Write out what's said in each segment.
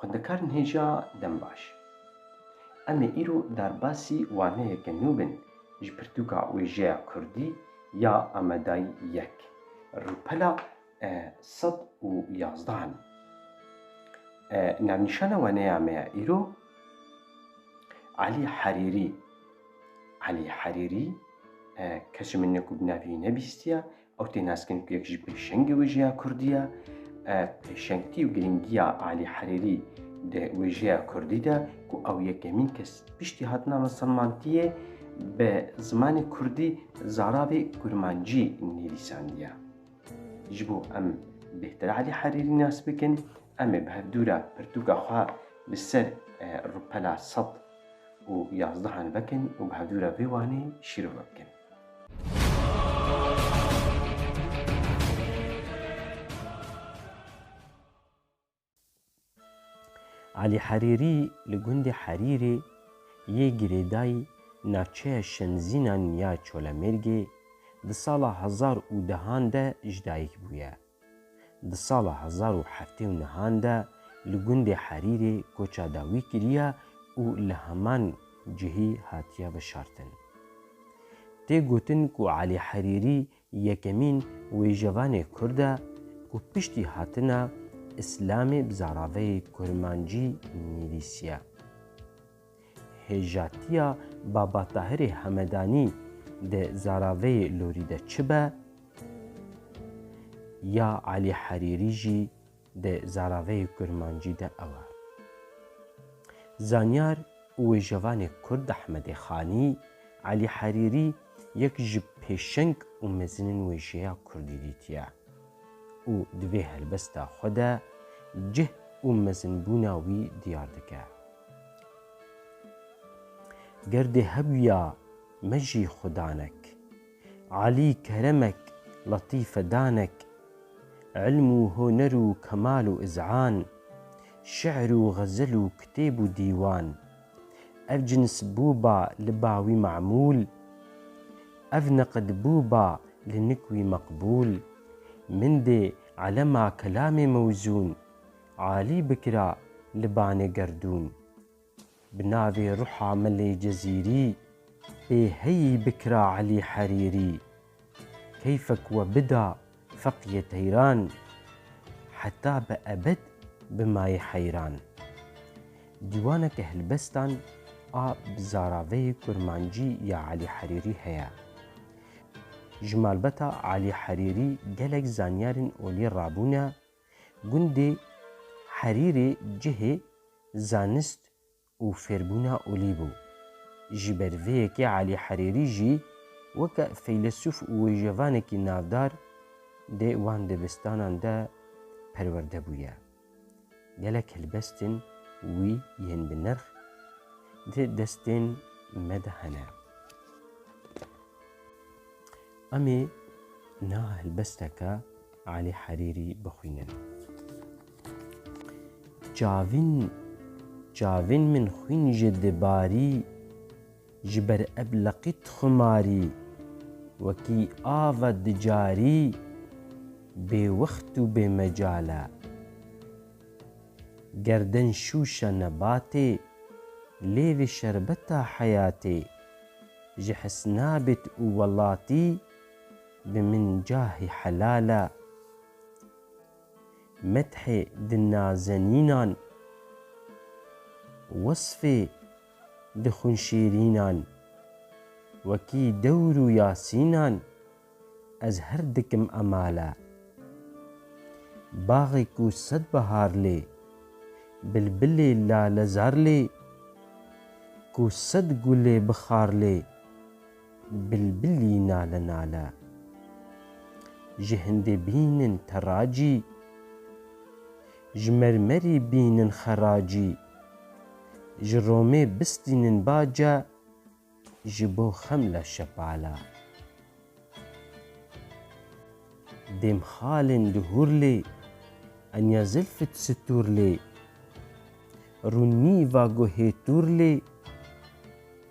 Xwendekarên hêja dem baş. Em ê îro derbasî waneyeke nû bin ji pirtûka wêjeya Kurdî ya Amedayî yek, rûpela sed û yazdeh in. Navnîşana weneya me ya îro Elî Herîrî. Elî Herîrî kesê min ne ku bi navî nebîstiye, ew tê naskirin ku yek ji pêşengê wêjeya Kurdî ye. Pêşengtî û girîngiya Elî Herîrî di wêjeya Kurdî de ku ew yekemîn kes piştî hatina misilmantiyê bi zimanê Kurdî zaravê kurmancî nivîsandiye. Ji bo em bêhtir Elî Herîrî nas bikin, em ê bi hevdû re pirtûka xwe li ser rûpela sed û yazdehan vekin û bi hevdû re vê wanê şîrove bikin. Alî Herîrî li gundê Herîrê yê girêdayî navçeya Şemzînan ya Çolemêrgê di sala hezar û dehan de ji dayik bûye. Di sala hezar û heftê û nehan de li gundê Herîrê koça dawî kiriye û li heman cihî hatiye veşartin. Tê gotin ku Alî Herîrî Yekemîn wêjevanê kurd e ku piştî hatina îslamê bi zaraveyê kurmancî nivîsiye. Hêjatiya Babatahirê Hemedanî di zaraveyê lorî de çi be? Ya Elî Herîrî jî. di zaraveyê kurmancî de ew e. Zanyar û wêjevanê kurd Ahmedê Xanî, Elî Herîrî yek ji pêşeng û mezinên wêjeya kurdî dîtiye û di vê helbesta xwe de cih û mezinbûna wî diyar dike. Ger dê hebûya me jî xwe danek, Alî keremek, letîfe danek, ilm û huner û kemal û iz'an, şi'r û xezel û kitêb û dîwan, ev cins bû ba li ba wî me'mûl, ev neqid bû ba li nik wî meqbûl. Min dê elema kelamê mewzûn, alî bikira li banê gerdûn. Bi navê ruha milê cezîrî. Ê heyî bikira Elî Herîrî. Keyfek we bida feqîyê teyran. Heta bi ebed bimayî heyran. Dîwaneke hilbestan a bi zaraveyê kurmancî ya Elî Herîrî heye. Ji malbata Elî Herîrî gelek zanyarên olî rabûne. Gundê Herîrê cihê zanist û fêrbûna olî bû. Ji ber vê yekê Elî Herîrî jî weke feylesûf û wêjevanekî navdar dê wan dibistanan de perwerde bûye. Gelek helbestên wî yên bi nirx di destên me de hene. Em ê niha helbesteke Alî Herîrî bixwînin. Çavîn çavîn min xwîn ji dibarî Ji ber eb leqît xumarî Wekî ava di carî Bê wext û bê mecal e Gerden şûşe nebatê Lêvê şerbeta heyatê Ji hisnabêt û welatî Bi min cahê helal e. Methê di nazenînan. Wesfê di xunşêrînan. Wekî dewr û yasînan. Ez her dikim emale. Baxê ku sed behar lê. Bilbilê lalezar lê. Ku sed gulê bi xar lê. Bilbilî nale nale. Ji hindê bînin teracî. Ji mermerî bînin xeracî. Ji romê bistînin bace. Ji bo xemle şepale. Dêm xalên di hûr lê. Enya zilfit stûr lê. Rûn nîva guhê tûr lê.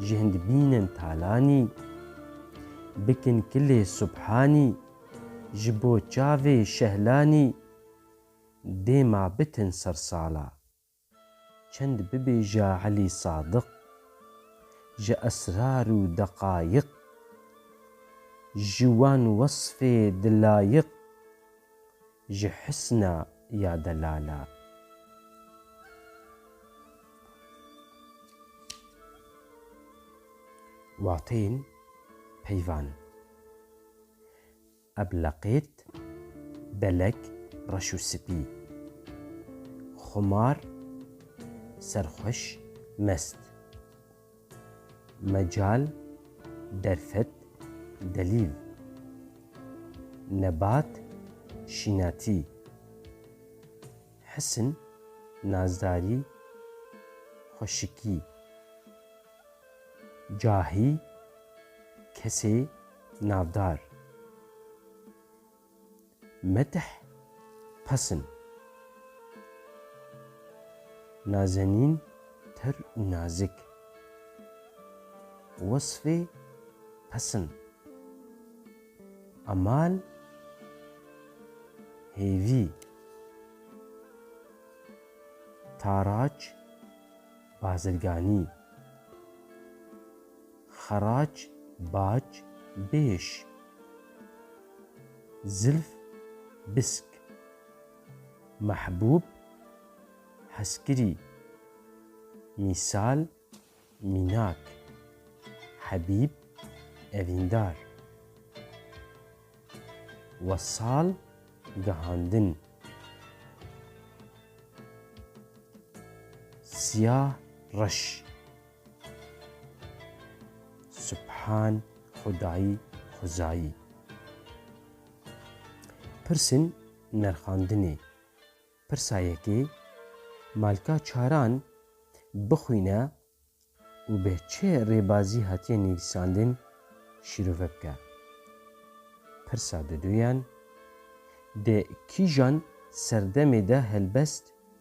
Ji hind bînin talanî. Bikin kilê subhanî. Ji bo çavê şehlanî. Dê ma bitin sersala. Çend bibêja Elî Sadiq. Ji esrar û deqayiq. Ji wan wesfê di layiq. Ji hisna ya delala. Wateyên peyvan. Ebleqêt, belek, reş û spî. Xumar, serxweş, mest. Mecal, derfet, delîl. Nebat, şînatî. Hisn, nazdarî, xweşikî. Cahî, kesê navdar. Metih Pesn Nazenîn Tir û nazik Wesfê Pesn Emal Hêvî Taraç Bazirganî Xerac, bac, bêş. Zilf, bisk. Mehbûb, hezkirî. Mîsal, mînak. Hebîb, evîndar. Wesal, gehandin. Siyah, reş. Subhan Xwedayî Xwezayî Pirsên nerxandinê Pirsa yekê Malka Çaran bixwîne û bi çi rêbazî hatiye nivîsandin şîrove bike. Pirsa duduyan Di kîjan serdemê de helbest